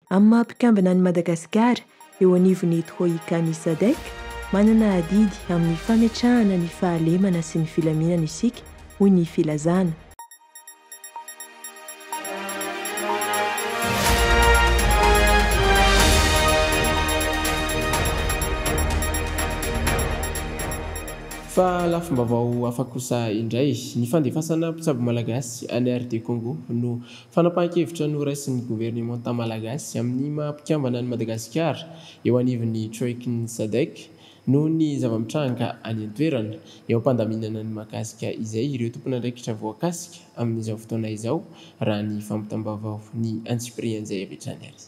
Amin'ny maha mpikambana an'i Madagasikara eo anivon'ny Troika ny Sadc, manana adidy amin'ny fametrahana ny fahalemana sy ny filaminana isika, hoy ny filazana. Fa lafim-baovao hafa kosa indray, ny fandefasana mpitsabo malagasy any RD Congo no Fanapahan-kevitra noraisin'ny governemanta malagasy amin'ny maha mpikambana an'i Madagasikara eo anivon'ny Troikan'ny Sadc noho ny zava-mitranga any an-toerana eo am-pandaminana ny mahakasika izay ireo tompon'andraikitra voakasika amin'izao fotoana izao raha ny fampitam-baovao ny antsipirihan'izay avy hatrany ary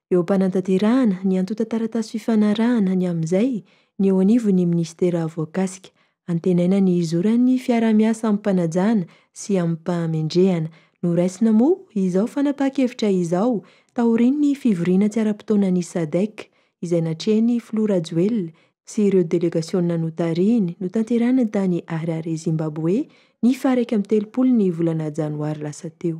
Eo am-panatanterahana ny antontan-taratasy fifanarahana ny amin'izay ny eo anivon'ny minisitera voakasika. Antenaina ny hizoran'ny fiaraha-miasa amim-panajana sy amim-pahamendrehana. Noraisina moa izao fanapahan-kevitra izao taorian'ny fivoriana tsy ara-potoanan'ny Sadec izay natrehin'ny filoha Rajoelina sy ireo delegasiona notarihiny notanterahina tany Harare Zimbaboe ny faha iraika amby telopolo ny volana janoary lasa teo.